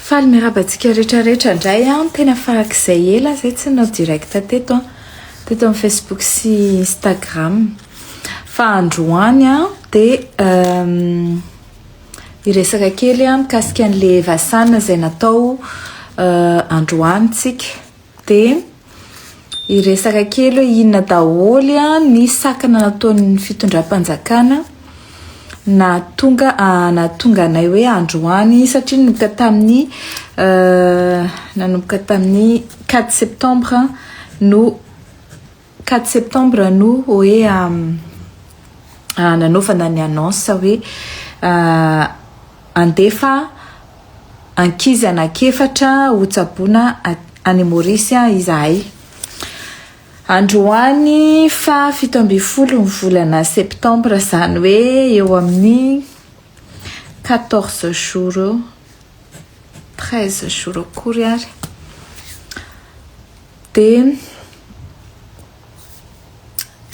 Faly miarahaba antsika rehetra rehetra indray an ah. tena farak'izay ela zay tsy nanao direct teto an ah. teto amin'ny facebook sy instagram fa androany an ah, dia ehm, Hiresaka kely aho mikasika an'le Vasan izay natao androany tsika. Dia hiresaka kely hoe inona daholo ny sakana nataon'ny fitondram-panjakana nahatonga nahatonga anay hoe androany satria nanomboka tamin'ny nanomboka tamin'ny 4 septembre no Quatre septembre no oe nanaovana ny annonce hoe andefa ankizy anak'efatra ho tsaboina any Maurice izahay. Androany faha fito ambin'ny folo ny volana septembre izany hoe eo amin'ny quatorze jours eo, treize jours akory ary. Dia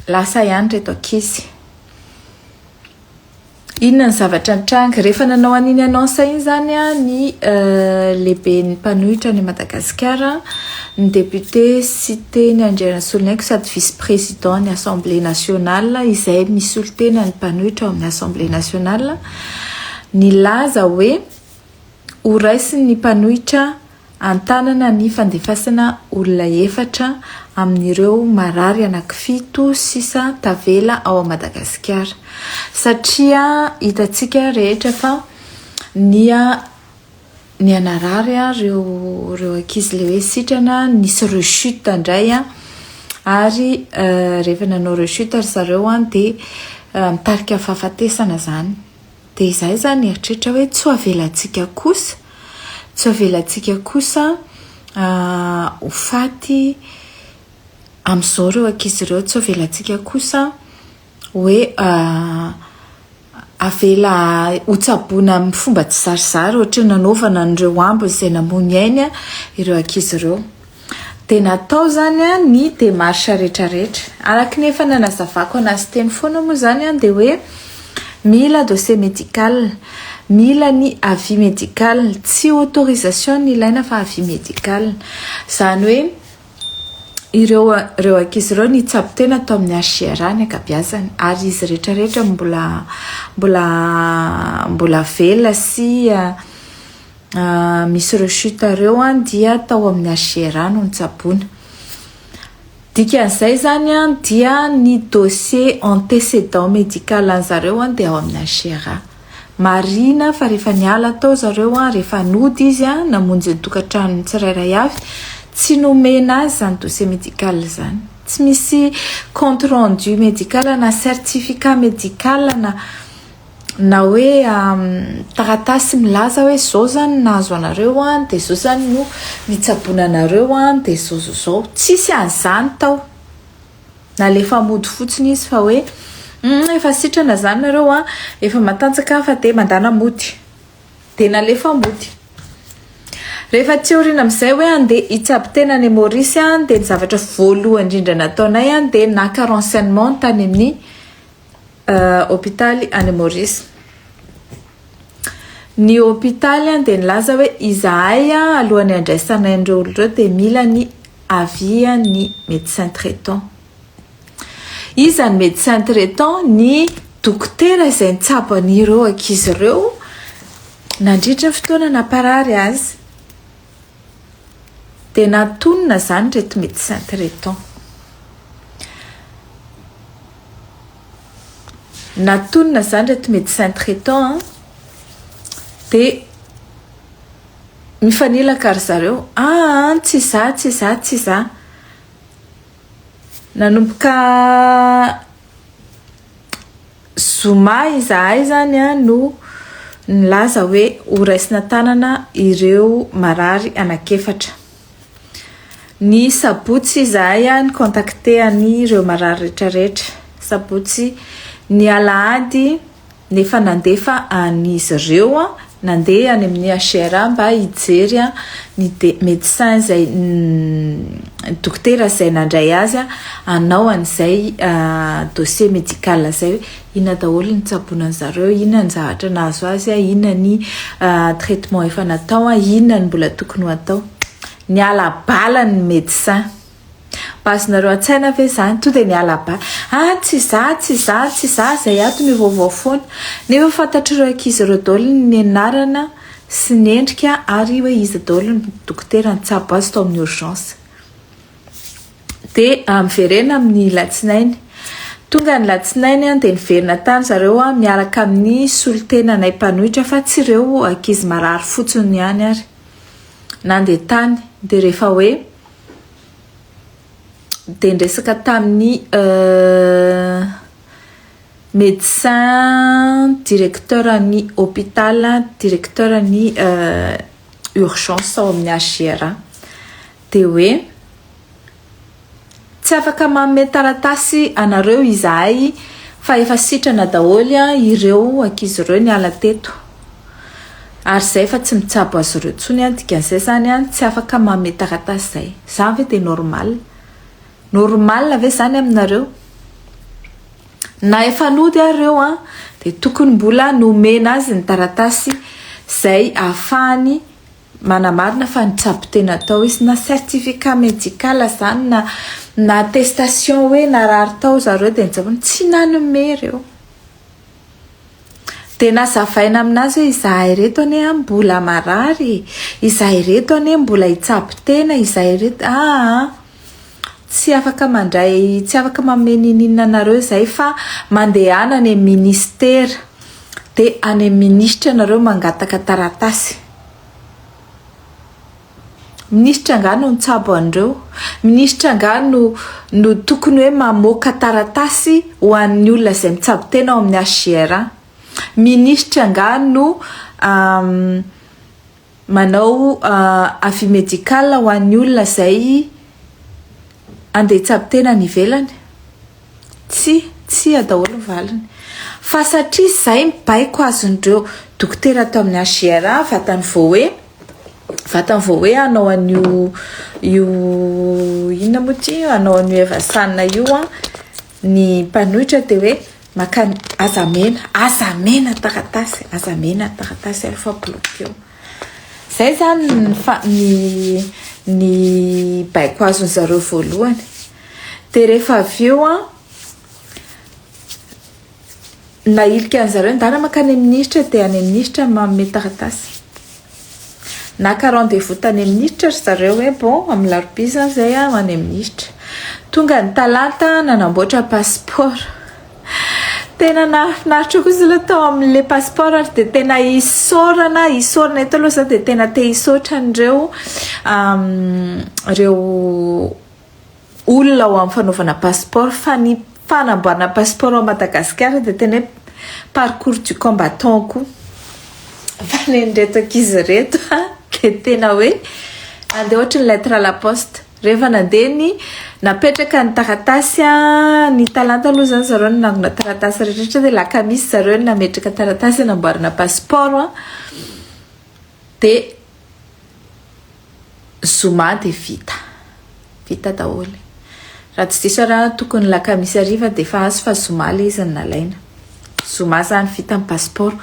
lasa ihany ireto ankizy. Inona ny zavatra nitranga? Rehefa nanao an'iny annonce iny izany ny lehiben'ny mpanohitra any Madagasikara, ny député Siteny Andrianasoloniaiko sady vice président ny Assemblée nationale izay misolo tena ny mpanohitra ao amin'ny Assemblée nationale, nilaza hoe horaisin'ny mpanohitra An-tanana ny fandefasana olona efatra amin'ireo marary anankifito sisa tavela ao Madagasikara. Satria hitantsika rehetra fa niha niha narary ireo ireo ankizy ilay hoe sitrana, nisy rechute indray ary rehefa nanao rechute ry zareo dia nitarika fahafatesana izany. Dia izaho izany nieritreritra hoe tsy ho avelantsika kosa, tsy ho avelantsika kosa ho faty amin'izao ireo ankizy ireo, tsy ho avelantsika kosa hoe avela hotsaboina amin'ny fomba tsizarizary ohatry ny nanaovana an'ireo ambiny izay namoy ny ainy ireo ankizy ireo. Dia natao izany ny démarche rehetrarehetra. Araka ny efa nanazavako an'azy teny foana moa izany dia hoe mila dossier médical, mila ny avis médical, tsy autorisation no ilaina fa avis médical. Izany hoe ireo ireo ankizy ireo nitsabo tena tao amin'ny HGRA ny ankabiazany ary izy rehetrarehetra mbola mbola mbola velona sy misy rechute ireo dia tao amin'ny HGRA no nitsaboana. Dikan'izay izany dia ny dossier antécédent médical an'ny zareo dia ao amin'ny HGRA. Marihina fa rehefa niala tao zareo, rehefa nody izy namonjy ny tokantranony tsirairay avy, tsy nomena azy izany dossier médical izany. Tsy misy compte rendu médical na certificat médical na. na hoe taratasy milaza hoe zao zany nahazo anareo an de zao zany no nitsaboana anareo an de zao zao zao tsisy an'izany tao nalefa mody fotsiny izy fa hoe hum efa sitrana zany nareo an efa matanjaka an fa de mandana mody de nalefa mody rehefa tsy aoriana amizay hoe ande hitsabo tena any Maurice an de ny zavatra voalohany indrindra nataonay an de naka renseignement tany amin'ny hopitaly any Maurice. Ny hopitaly dia nilaza hoe izahay alohan'ny handraisana ireo olona ireo dia mila ny avis ny médecin traitant. Iza ny médecin traitant? Ny dokotera izay nitsabo an'ireo ankizy ireo nandritra ny fotoana namparary azy. Dia natonina izany reto médecin traitant. Natonina izany reto médecin traitant an, dia mifanilaka ry zareo, aa tsy za tsy za tsy za, nanomboka zoma izahay zany a no nilaza hoe ho raisina tanana ireo marary anakefatra ny sabotsy izahay a ny contacte an'ireo marary retraretra sabotsy ny alahady nefa nandefa an'izy ireo a Nandeha any amin'ny HCRA mba hijery ny médecin izay, ny dokotera izay nandray azy hanao an'izay dossier médical izay hoe inona daholo ny tsaboina an'i zareo, inona ny zavatra nahazo azy, inona ny traitement efa natao, inona ny mbola tokony ho atao. Niala bala ny médecin. Bazonareo an-tsaina ve izany? Tonga dia miala baly, ah tsy izaho, tsy izaho, tsy izaho izay ato mivaovao foana. Nefa fantatr'ireo ankizy ireo daholo ny anarana sy ny endrika ary hoe iza daholo ny dokotera nitsabo azy tao amin'ny urgence. Dia miverena amin'ny latsinainy. Tonga ny latsinainy dia niverina tany zareo miaraka amin'ny solontenanay mpanohitra fa tsy ireo ankizy marary fotsiny ihany ary. Nandeha tany dia rehefa hoe. dia niresaka tamin'ny médecin directeur ny hôpital directeur ny urgence ao amin'ny HGRA dia hoe tsy afaka manome taratasy anareo izahay fa efa sitrana daholo ireo ankizy ireo niala teto Ary izay efa tsy mitsabo azy ireo intsony an, dikan'izay izany an, tsy afaka manome taratasy izay. Izany ve dia normal? Normal ve izany aminareo? Na efa nody ary ireo an, dia tokony mbola nomena azy ny taratasy izay ahafahany manamarina fa nitsabo tena tao izy, na certificat médical izany na na attestation hoe narary tao zareo dia nitsabo, tsy nanome ireo. Dia nazavaina amin'azy hoe izahay ireto anie an mbola marary e! Izahay ireto anie mbola hitsabo tena, izahay ireto aa! Tsy afaka mandray, tsy afaka manome n'inon'inona anareo izahay fa mandehana any amin'ny minisitera, dia any amin'ny minisitra ianareo mangataka taratasy. Minisitra angaha no nitsabo an'ireo? Minisitra angaha no no tokony hoe mamoaka taratasy ho an'ny olona izay mitsabo tena ao amin'ny HJR an? Minisitra angaha no manao avis médical ho an'ny olona izay andeha hitsabo tena any ivelany? Tsia, tsia daholo ny valiny. Fa satria izay ny baiko azon'ireo dokotera tao amin'ny HJR, vatany voahe, vatany vao hoe hanao an'io io inona moa ity hanao an'io Evasana io an ny mpanohitra dia hoe maka aza mena aza mena taratasy aza mena taratasy ary fa bloqueo zay zany ny fa ny ny baiko azony zareo voalohany dia rehefa avy eo an Nahilika an zareo ndana makany am ministra de any am ministra no manome taratasy. Naka rendez vous tany am ministra ry zareo hoe bon am larobia zany zay aho any am ministra. Tonga ny talata nanamboatra passeport. Tena nahafinaritra kosa aloha tao amle passeport ary de tena isaorana isaorana eto aloha za de tena te hisaotra anreo reo olona ao amin'ny fanaovana passeport fa ny fanamboarana passeport ao Madagasikara dia tena hoe parcours du combattant koa fa ny an'ireto ankizy ireto dia tena hoe andeha ohatry ny lettre à la poste rehefa nandeha ny napetraka ny taratasy ny talenta aloha izany zareo no nangona taratasy rehetra dia lakamisy zareo no nametraka taratasy hanamboarana passeport dia Zoma dia vita. Vita daholo. Raha tsy diso aho tokony ny lakamisy hariva dia efa azo fa zoma ilay izy no nalaina. Zoma izany vita ny passeport.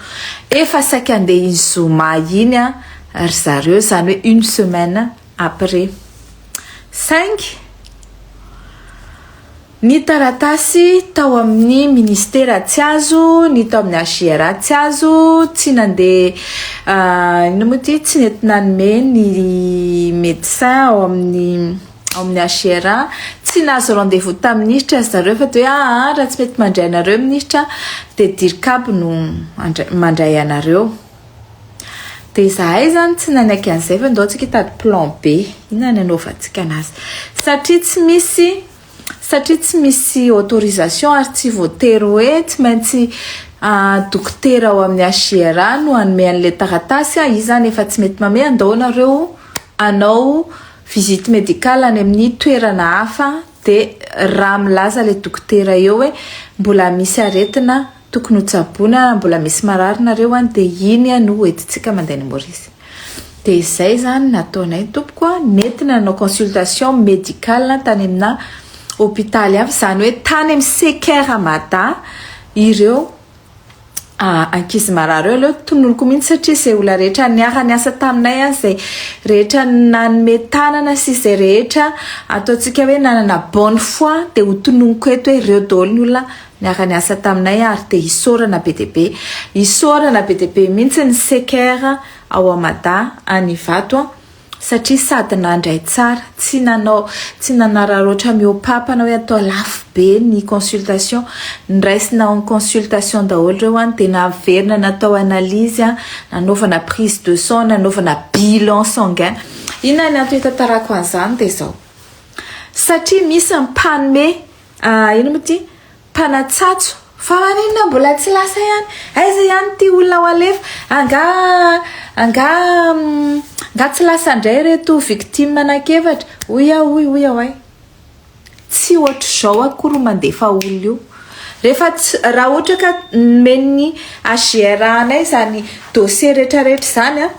Efa saika handeha iny zoma iny ry zareo, izany hoe une semaine après. Saingy. Ny taratasy tao amin'ny Ministera tsy azo, ny tao amin'ny HJRA tsy azo, tsy nandeha inona moa ity, tsy nety nanome ny médecin ao amin'ny ao amin'ny HJRA, tsy nahazo rendez-vous tamin'ny Minisitra ry zareo fa dia hoe aa raha tsy mety mandray anareo ny Minisitra dia Dircab no handray mandray anareo. Dia izahay izany tsy nanaiky an'izay fa ndao tsika hitady plan B, inona no hanaovantsika an'azy satria tsy misy Satria tsy misy autorisation ary tsy voatery hoe tsy maintsy dokotera ao amin'ny HJRA no hanome an'ilay taratasy a, izy izany efa tsy mety manome, andao ianareo hanao visite médicale any amin'ny toerana hafa dia raha milaza ilay dokotera eo hoe mbola misy aretina Tokony ho tsaboina mbola misy marary nareo any de iny no ho entintsika mandeha any Maurice. De izay zany nataonay tompoko a, nentina nanao consultation médicale tany amina hopitaly hafa, zany hoe tany amin'ny CKR Mada ireo ankizy marary ireo, aleo tononiko mihitsy satria izay olona rehetra niara niasa taminay any, izay rehetra nanome tanana sy izay rehetra ataontsika hoe nanana bonne foi de ho tononiko eto hoe ireo daholo ny olona. Niara-niasa taminay ary te hisaorana be dia be. Isaorana be dia be mihitsy ny Seker ao a Mada any Ivato a! satria sady nandray tsara, tsy nanao, tsy nanararaotra mihoapapa na hoe atao lafo be ny consultation, niraisina en consultation daholo ireo an! dia naverina natao analyse a, nanaovana prise de sang, nanaovana bilan sanguin. Inona ny antony hitantarako an'izany dia izao, satria misy ny mpanome Ah ino mo ty? Mpanatsatso. Fa maninona mbola tsy lasa ihany? Aiza ihany ty olona ho alefa? Anga anga nga tsy lasa ndray reto victime anak'efatra? Hoy aho hoy hoy aho ay. Tsy ohatr'izao akory mandefa olona io. Rehefa tsy raha ohatra ka nomen'ny HGR anay zany dossier retraretra zany a.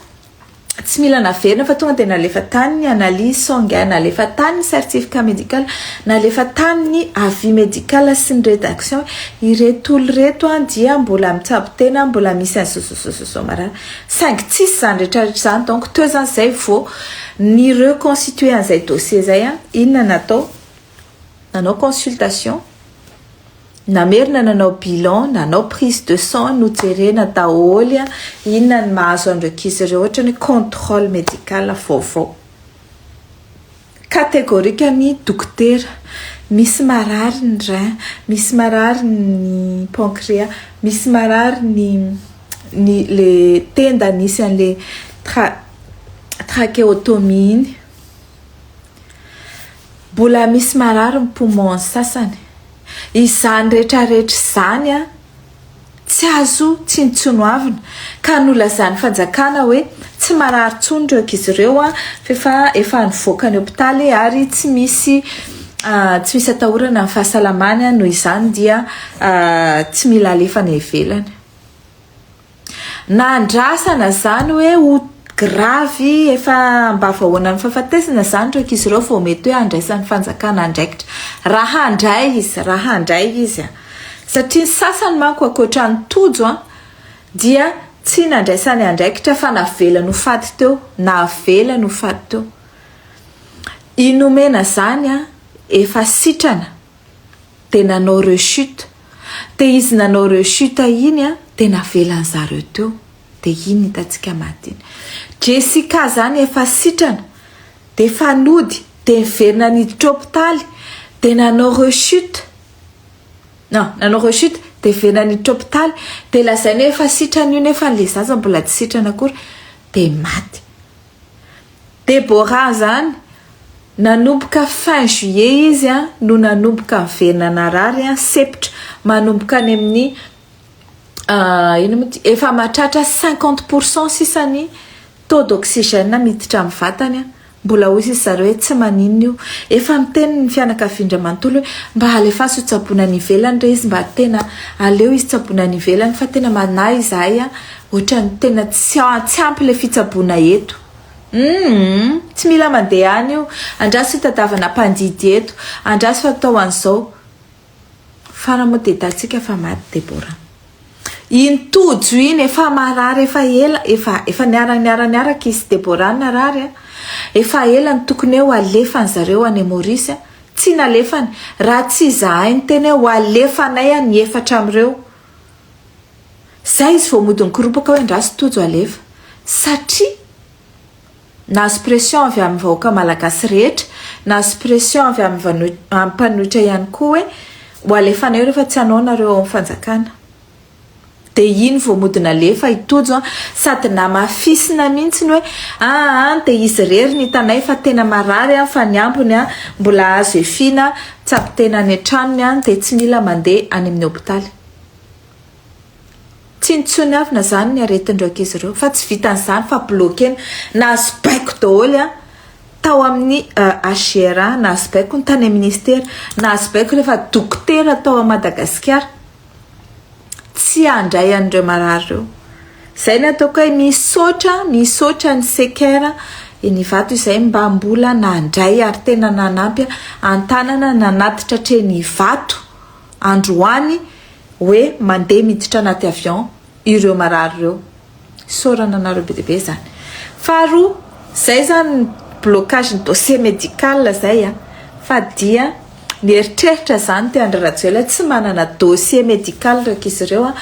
tsy mila naverina fa tonga dia nalefa tany ny analyse sanguin, nalefa tany ny certificat médical, nalefa tany ny avis médical sy ny rédaction, ireto olona ireto dia mbola mitsabo tena, mbola misy an'i zozozozozoo marary, saingy tsisy izany rehetrarehetra izany, donc teo izany izay vao ni reconstituer an'izay dossier izay, inona no natao? nanao consultation, Namerina nanao bilan, nanao prise de sang, nojerena daholy inona ny mahazo an'ireo ankizy ireo ohatrany hoe controle medical vaovao. Catégorique ny dokotera, misy marary ny rein, misy marary ny pancréa, misy marary ny ny le tenda nisy an'le tra- tracheotomie iny. Mbola misy marary ny poumons sasany. Izany retraretra izany tsy azo tsinontsinoavina ka nolazan'ny fanjakana hoe tsy marary intsony ireo ankizy ireo fa efa nivoaka ny hopitaly ary tsy misy tsy misy atahorana ny fahasalamany noho izany dia tsy mila alefa any ivelany. Na andrasana zany hoe ho gravy efa mba vahoana ny fahafatesana zany ireo ankizy ireo vao mety hoe handraisan'ny fanjakana andraikitra. Raha handray izy, raha handray izy an! Satria ny sasany manko ankoatran'i Tojo an, dia tsy nandraisany andraikitra fa navelany ho faty teo, navelany ho faty teo. I Nomena zany an, efa sitrana. Dia nanao rechute. Dia izy nanao rechute iny an, dia navelan zareo teo. Dia iny hitantsika maty iny. Jessica zany efa sitrana, dia efa nody, dia niverina niditra hopitaly, dia nanao rechute. Non, nanao rechute, dia niverina niditra hopitaly, dia lazainy hoe efa sitrana io nefa ilay zaza mbola tsy sitrana akory, dia maty. Deborah zany nanomboka fin juillet izy an no nanomboka miverina narary an septra manomboka any amin'ny ino moa ty efa mahatratra cinquante pour cent sisa ny taux d'oxygène miditra amin'ny vatany an mbola hoy sisa zareo hoe tsy maninona io efa miteny ny fianakavian-dry manontolo hoe mba alefaso ho tsaboina any ivelany re izy mba tena aleo izy tsaboina any ivelany fa tena manahy izahay an Otrany tena tsy ampy le fitsaboana eto. Humm tsy mila mandeha any io, andraso hitadavana mpandidy eto, andraso atao an'izao. Fara moa dia hitantsika fa maty Deborah. Iny Tojo iny efa marary efa ela, efa efa niara niara niaraka izy sy Deborah narary a, efa ela no tokony hoe ho alefany zareo any Maurice a, tsy nalefany, raha tsy izahay niteny hoe ho alefanay a ny efatra amin'ireo. Zay izy vao mody mikoropaka hoe ndraso Tojo alefa. Satria nahazo pression avy amin'ny vahoaka malagasy rehetra, nahazo pression avy amin'ny mpanohitra ihany koa hoe ho alefanay rehefa tsy anao nareo ao amin'ny fanjakana. Dia iny vao mody nalefa i Tojo sady namafisina mihitsy ny hoe aa dia izy irery no hitanay fa tena marary fa ny ambiny mbola azo efiana Tsabo tena any an-tranony any dia tsy mila mandeha any amin'ny hopitaly. Tsy nitsoniavina izany ny aretin'ireo ankizy ireo fa tsy vitan'izany fa bloquena. Nahazo baiko daholo an! Tao amin'ny HGRA nahazo baiko ny tany amin'ny ministera, nahazo baiko rehefa dokotera tao Madagasikara. tsy handray an'ireo marary ireo. Izay ny ataoko hoe misaotra, misaotra ny Seker eny Ivato izay mba mbola nandray ary tena nanampy an-tanana nanatitra hatreny Ivato androany hoe mandeha miditra anaty avion ireo marary ireo. Isaorana anareo be dia be izany. Faharoa, izay izany blocage ny dossier médical izay a, fa dia nieritreritra izany ity Andry Rajoelina tsy manana dossier médical raika izy ireo a,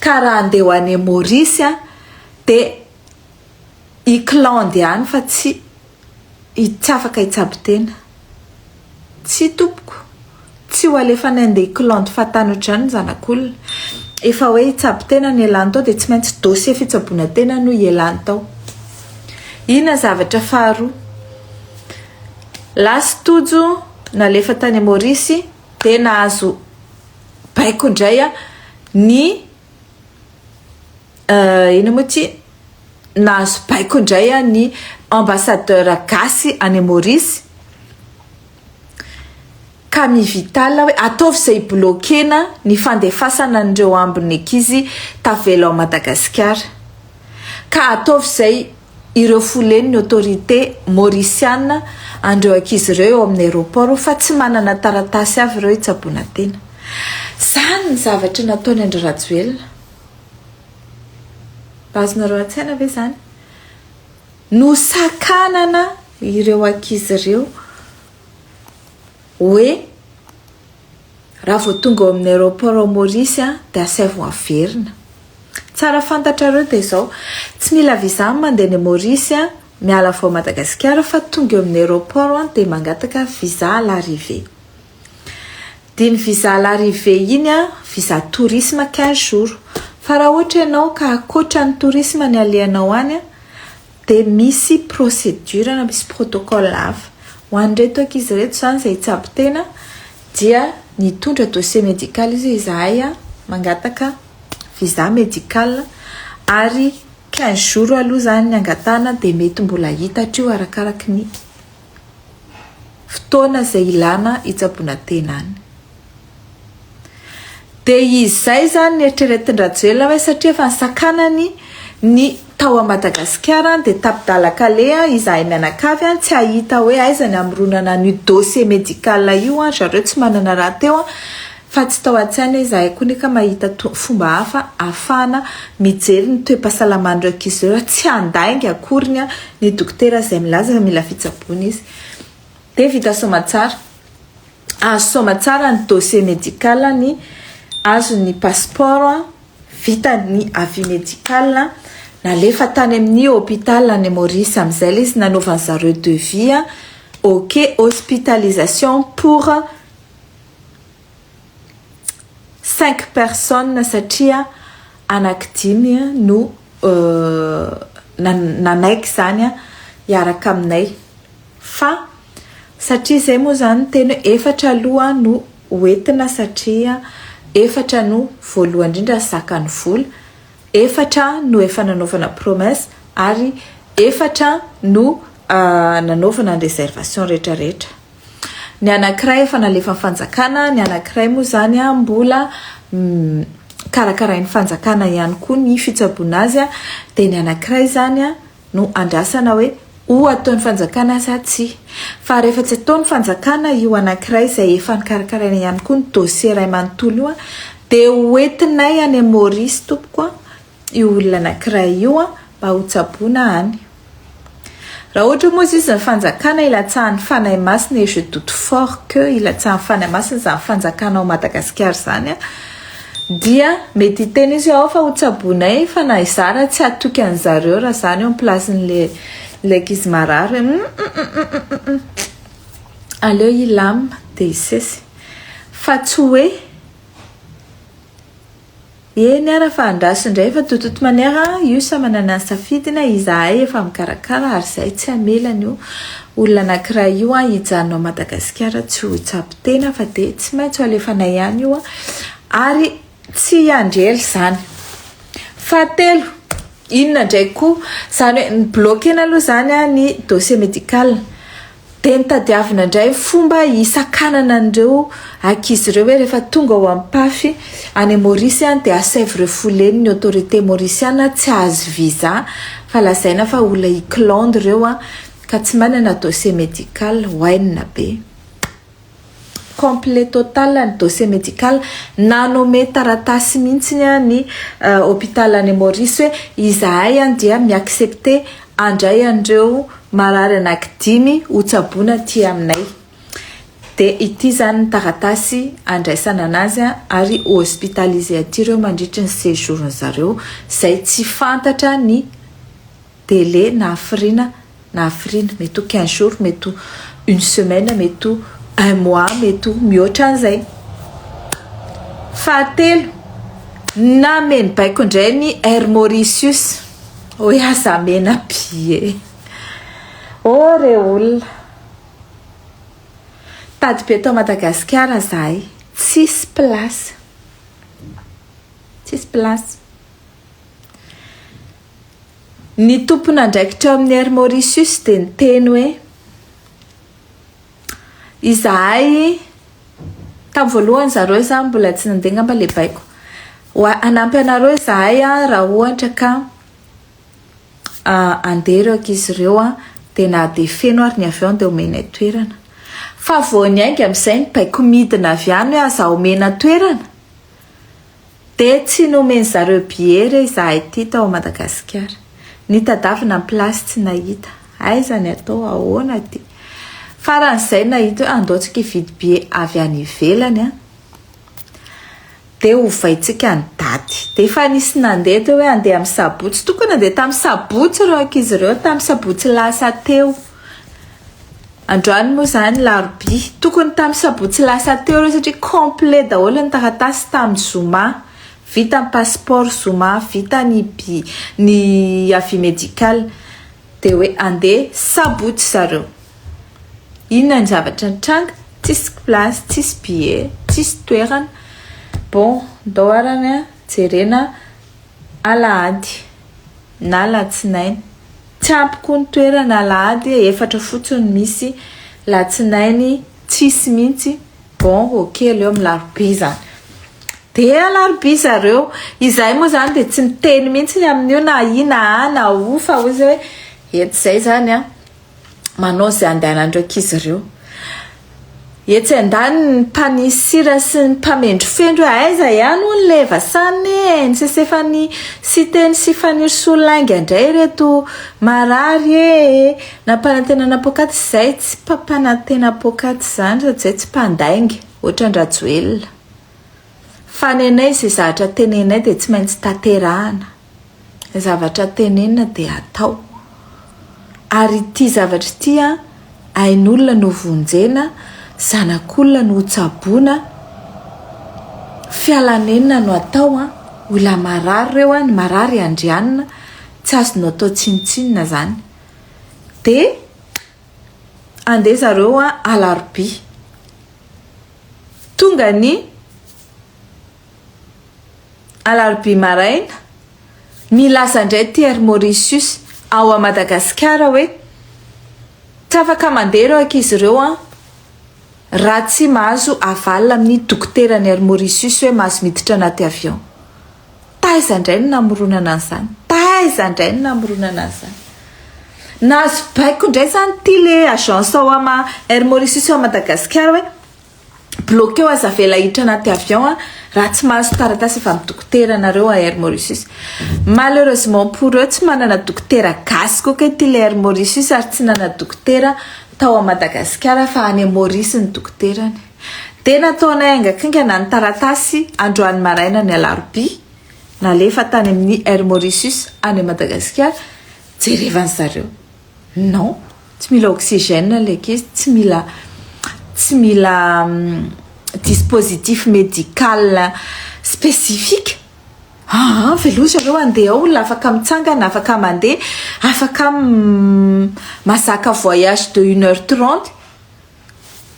ka raha andeha ho any Maurice a dia I clan dia any fa tsy I tsy afaka hitsabo tena. Tsia tompoko, tsy ho alefanay handeha hiklandy fahatany ohatr'izany ny zanak'olona. Efa hoe hitsabo tena no ialany tao dia tsy maintsy dossier fitsaboana tena no ialany tao. Inona zavatra faharoa? Last Tojo nalefa tany Maurice dia nahazo baiko indray ny Euh, inona moa ity? Nahazo baiko indray an ny ambassadeur gasy any Maurice. Ka mivitala hoe ataovy izay bloquena ny fandefasana an'ireo ambin'ny ankizy tavela ao Madagasikara. Ka ataovy izay ireo folen'ny autorité mauriciana an'ireo ankizy ireo eo amin'ny aéroport fa tsy manana taratasy avy ireo hitsaboana tena. Izany ny zavatra nataony an-dry Rajoelina. Azonareo an-tsaina ve izany? Nosakanana ireo ankizy ireo hoe raha vao tonga ao amin'ny aéroport ao Maurice dia asaivo averina. Tsara fantatrareo dia izao, tsy mila visa ny mandeha any Maurice, miala vao Madagasikara fa tonga eo amin'ny aéroport dia mangataka visa à l'arrivée. Dia ny visa à l'arrivée iny an, visa tourisme quinze jours. Fa raha ohatra ianao ka ankoatra ny tourisme ny alehanao any an, dia misy procédure na misy protocole hafa. Ho an'ireto ankizy ireto izany izay hitsabo tena dia nitondra dossier médical izy hoe izahay mangataka visa médical ary quinze jours aloha izany ny angatahana dia mety mbola hita hatreo arakaraky ny. fotoana izay ilana hitsaboana tena any. Dia izay izany nieritreretin-dRajoelina hoe satria efa nisakanany ny tao a Madagasikara dia tapi-dalan-kaleha izahay mianakavy tsy hahita hoe aiza ny hamoronana an'io dossier médical io an, ry zareo tsy manana rahateo an, Fa tsy tao an-tsaina izahay koa neka mahita to fomba hafa ahafahana mijery ny toe-pahasalaman'ireo ankizy ireo raha tsy handainga akory ny ny dokotera izay milaza fa mila fitsaboana izy. Dia vita soamatsara. Azo soamatsara ny dossier médical ny azo ny passeport vita ny avis médical nalefa tany amin'ny hôpital any Maurice amin'izay ilay izy nanaovan'izareo devis ok hospitalisation pour Cinq personnes satria anaky dimy no nanaiky izany hiaraka aminay fa satria izay moa izany teny hoe efatra aloha no hoentina satria efatra no voalohany indrindra zakan'ny vola, efatra no efa nanaovana promesse ary efatra no nanaovana ny réservation rehetra rehetra. Ny anankiray efa nalefan'ny fanjakana, ny anankiray moa izany mbola karakarain'ny fanjakana ihany koa ny fitsaboana azy, dia ny anankiray izany no andrasana hoe ho ataon'ny fanjakana sa tsia. Fa rehefa tsy ataon'ny fanjakana io anankiray izay efa nokarakaraina ihany koa ny dosie iray manontolo io dia hoentinay any Maorisy tompoko io olona anankiray io mba hotsaboina any. Raha ohatra moa izy ny fanjakana ilatsahan'ny fanahy masina et je doute fort que ilatsahan'ny fanahy masina izany fanjakana ao Madagasikara izany an, dia mety hiteny izy hoe ao fa hotsaboinay fa na izaho raha tsy hatoky an'i zareo raha izaho no eo am-plasin'ilay ilay ankizy marary hoe hum-hum-hum-hum-hum-hum aleo hilam dia hisesy fa tsy hoe Eny ara fa andraso indray fa de toute manière a io samy manana ny safidiny, izahay efa mikarakara ary zahay tsy hamela an'io olona anakiray io a hijanona ao Madagasikara tsy ho tsapy tena fa de tsy maintsy ho alefanay any io a ary tsy hiandry ela izany. Fahatelo, inona indray koa, izany hoe mi-bloquer-na aloha izany a ny dossier médical. Dia notadiavina indray ny fomba hisakanana an'ireo ankizy ireo hoe rehefa tonga ao Ampafy any Maurice dia asaivo ireo fouleni ny autorite Mauriciana tsy hahazo visa fa lazaina fa olona iklande ireo ka tsy manana dossier medical. Oainina be. complet total ny dossier médical nanome taratasy mintsiny an ny hôpital any Maurice hoe izahay an dia mi accepter andray an'ireo marary anaky dimy ho tsaboina aty aminay de ity zany ny taratasy andraisana anazy an ary ho hospitaliser aty ireo mandritry ny séjour ny zareo zay tsy fantatra ny délai na hafiriana na hafiriana, mety ho quinze jours, mety ho une semaine, mety ho un mois, mety ho mihoatra an'izay. Fahatelo, nameno baiko indray ny Air Mauritius, hoy aho za mena be e! Oh re olona! Tady be tao Madagasikara zahay, tsisy place, tsisy place. Ny tompon'andraikitra ao amin'ny Air Mauritius dia niteny hoe izahay tamin'ny voalohany zareo izany mbola tsy nandeha ngamba ilay baiko wa hanampy anareo izahay raha ohatra ka ah, andeha ireo ankizy ireo an dia na dia feno ary ny avion dia omenay toerana fa vao niainga amin'izay ny baiko midina avy any hoe aza omena toerana Dia tsy nomen zareo billet re izahay ity tao Madagasikara. Nitadavina ny place tsy nahita. Aiza ny atao, ahoana ity. Faran'izay nahita hoe andao tsika hividy billet avy any ivelany an. Dia ovaintsika ny daty. Dia efa nisy nandeha teo hoe andeha amin'ny sabotsy. Tokony nandeha tamin'ny sabotsy ireo ankizy ireo, tamin'ny sabotsy lasa teo. Androany moa izany larobia. Tokony tamin'ny sabotsy lasa teo ireo satria complet daholo ny taratasy tamin'ny zoma. Vita ny passeport zoma, vita ny bi, ny avis medical. Dia hoe andeha sabotsy zareo. Inona ny zavatra nitranga? Tsisy place, tsisy billet, tsisy toerana. Bon, ndao arany jerena alahady. na alatsinainy. Tsy ampy koa ny toerana alahady e, efatra fotsiny misy, latsinainy tsisy mintsy, bon ok aleo amin'ny larobia izany. Dia alarobia zareo, izahay moa izany dia tsy miteny mintsy ny amin'io na i na a na u fa hoy izay hoe etsy izay izany an. manao izay andehanan'ireo ankizy ireo. Etsy andaniny ny mpanisira sy ny mpamendrofendro hoe aiza ihany hono ilay Vasanne e, ny sesefan'i Siteny sy Fanirisoa lainga indray ireto marary e, nampanantenana poakaty izay tsy mpampanantena poakaty izany sady izay tsy mpandainga, ohatran-dRajoelina. Fa nenay izay zavatra tenenay dia tsy maintsy tanterahana. zavatra tenenina dia atao ary ity zavatra ity an ain'olona no vonjena zanak'olona no hotsaboina fialanenina no atao an olona marary ireo an ny marary andrianina tsy azonao atao tsinontsinona zany dia andeha zareo an alarobia tonga ny Alarobia maraina, nilaza indray Thierry Mauricius ao à Madagasikara hoe, tsy afaka mandeha ireo ankizy ireo an! raha tsy mahazo aval amin'ny dokoteran'i Air Mauricius hoe mahazo miditra anaty avion. Taiza indray ny namoronana an'izany? Taiza indray ny namoronana an'izany? Nahazo baiko indray izany ity le agence ao am Air Mauricius ao Madagasikara hoe, Bloqueo aza avela hiditra anaty avion a raha tsy mahazo taratasy avy amin'ny dokotera anareo a Air Mauritius. Malheureusement pour eux tsy manana dokotera gasy koa kay ty le Air Mauritius ary tsy nana dokotera tao a Madagasikara fa any Maurice ny dokoterany. Dia nataonay haingankingana ny taratasy androany maraina ny alarobia nalefa tany amin'ny Air Mauritius any Madagasikara jerevan'zareo. Non, tsy mila oxygène ilay ankizy, tsy mila tsy mila dispositif médical spécifique. Aa avy aloha zareo handeha ao olona afaka mitsangana, afaka mandeha, afaka mazaka voyage de une heure trente.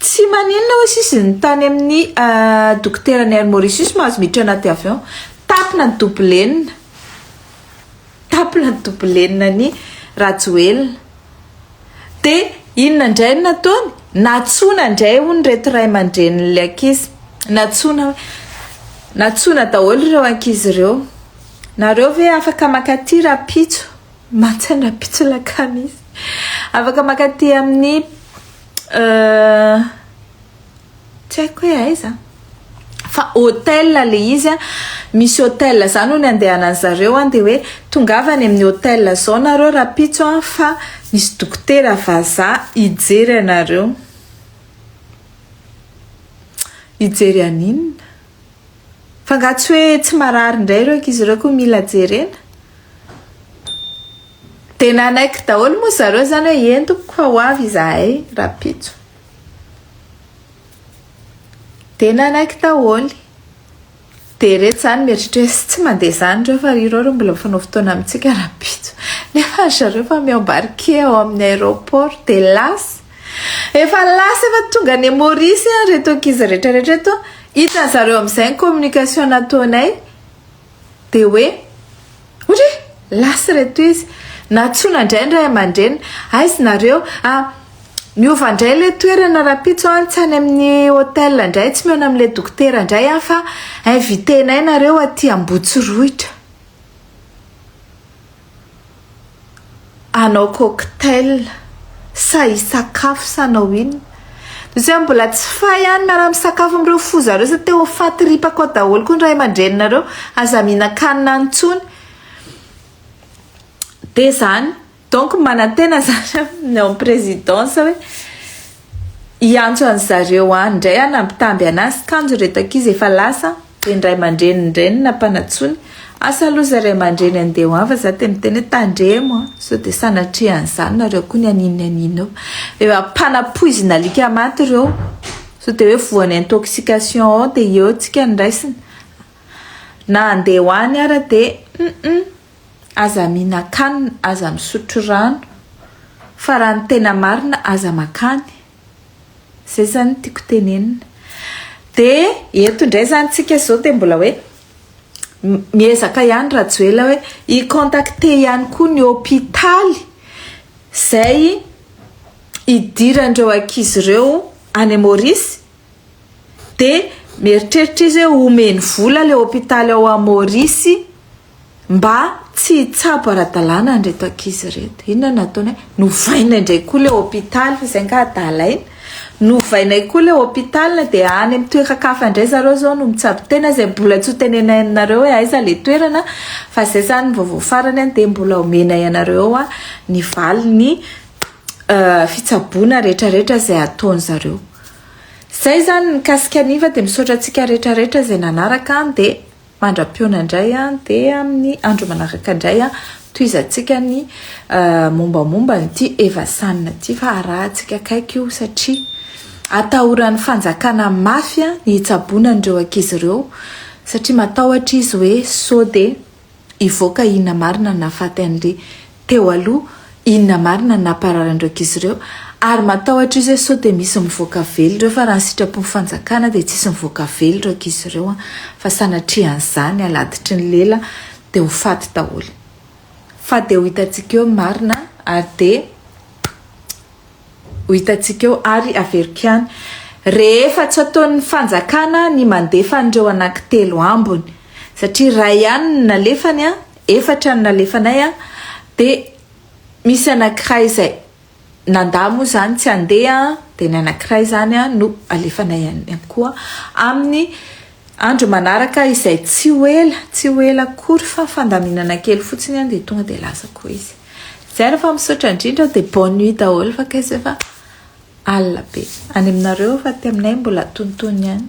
Tsy maninona oe sisy ny tany amin'ny dokotera ny air Mauritius mahazo miditra anaty avion. Tapina ny dobolenina. Tapina ny dobolenina ny Rajoelina. Dia inona indray no nataony? Nantsoina indray hono ireto ray aman-drenin'ilay ankizy. Nantsoina hoe, nantsoina daholo ireo ankizy ireo. Nareo ve afaka mankaty rahampitso? Mantsana pitsolaka misy. Afaka makaty amin'ny tsy haiko hoe aiza fa hotel le izy a misy hotel za no ny andehanan'ny zareo a de hoe tongava any amin'ny hotel zao nareo rapitso a fa misy dokotera vazaha hijery anareo hijery an'inona Fa nga tsy hoe tsy marary ndray ireo ankizy ireo ko mila jerena? De nanaiky daholo moa zareo zany hoe eny tompoko fa ho avy izahay rapitso. De nanaiky daholo. De reto zany mieritreritra hoe tsy mande zany ireo fa ireo ro mbola mifanao fotoana amintsika rapitso. Nefa ry zareo efa miambarquer ao amin'ny aeroport de lasa. Efa lasa efa tonga any Maurice an reto ankizy rehetra rehetra eto hitan zareo amizay ny communication nataonay de hoe ohatry hoe lasa reto izy nantsoina indray ny ray aman-dreniny aiz nareo ah miova indray ilay toerana rapitso an tsy any amin'ny hotel indray tsy mihaona amin'ilay dokotera indray an fa invitenay nareo aty ambotsirohitra hanao cocktail sa hisakafo sa hanao inona? Misy aho mbola tsy fay any miara misakafo amin'ireo foza ireo sa te ho fatiripako ao daholo koa ny ray aman-dreninareo, aza mihinan-kanina any intsony, dia izany donc manantena izany aho ny ao amin'ny présidence hoe hiantso an'i zareo any indray hanambitamby an'azy kanjo ireto ankizy efa lasa. Ry ndray mandreny ndreny na mpanantsony asa aloha zay ray mandreny andeha ho ava za de miteny hoe tandremo a sao de sanatria an'izany nareo koa ny anino ny anino eo efa mpanapoizina alika maty reo sao de hoe voan'ny intoxication ao de eo tsika ny raisina na andeha ho any ara de hum aza mihinan-kanina aza misotro rano fa raha ny tena marina aza makany Zay zany tiako tenenina. Dia eto indray zany tsika zao dia mbola hoe miezaka ihany Rajoela hoe hi contacter ihany koa ny hôpitaly zay hidiran'ireo ankizy ireo any Maurice dia mieritreritra izy hoe homeny vola ilay hôpitaly ao Maurice Mba tsy hitsabo ara-dalàna an'ireto ankizy ireto. Inona no ataonay? Novainay indray koa ilay hôpital, izay angaha adala iny? Novainay koa ilay hôpital dia any amin'ny toeran-kafa indray zareo izao no mitsabo tena izay mbola tsy hotenenainy anareo hoe aiza ilay toerana fa izay izany ny vaovao farany dia mbola homenay anareo ny valin'ny fitsaboana rehetrarehetra izay ataony zareo. Izay izany ny mikasika ny iva dia misaotra antsika rehetrarehetra izay nanaraka dia Mandra-pihaona indray dia amin'ny andro manaraka indray tohizantsika ny mombamomba an'ity Eva San ity fa arahantsika akaiky io satria atahoran'ny fanjakana mafy ny hitsaboana an'ireo ankizy ireo satria matahotra izy hoe sao dia hivoaka inona marina no nahafaty an'ilay teo aloha inona marina ny nampararan'ireo kizy ireo ary matahotra izy hoe sao dia misy mivoaka vely ireo fa raha ny sitrapon'ny fanjakana dia tsisy mivoaka vely ireo kizy ireo an fa sanatria an'izany aladitry ny lela dia ho faty daholo fa dia ho hitantsika eo ny marina ary dia ho hitantsika eo ary averiko ihany rehefa tsy ataon'ny fanjakana ny mandefa an'ireo anankitelo ambiny satria ray ihany ny nalefany an Efatra no nalefanay an, dia misy anankiray izay nandà moa izany tsy handeha an, dia ny anankiray izany an no alefanay any ihany koa amin'ny andro manaraka izay tsy ho ela, tsy ho ela akory fa fandaminana kely fotsiny an dia tonga dia lasa koa izy. Izay raha fa misaotra indrindra dia bonne nuit daholo fa kay izay fa alina be. Any aminareo fa aty aminay mbola antonontonony ihany.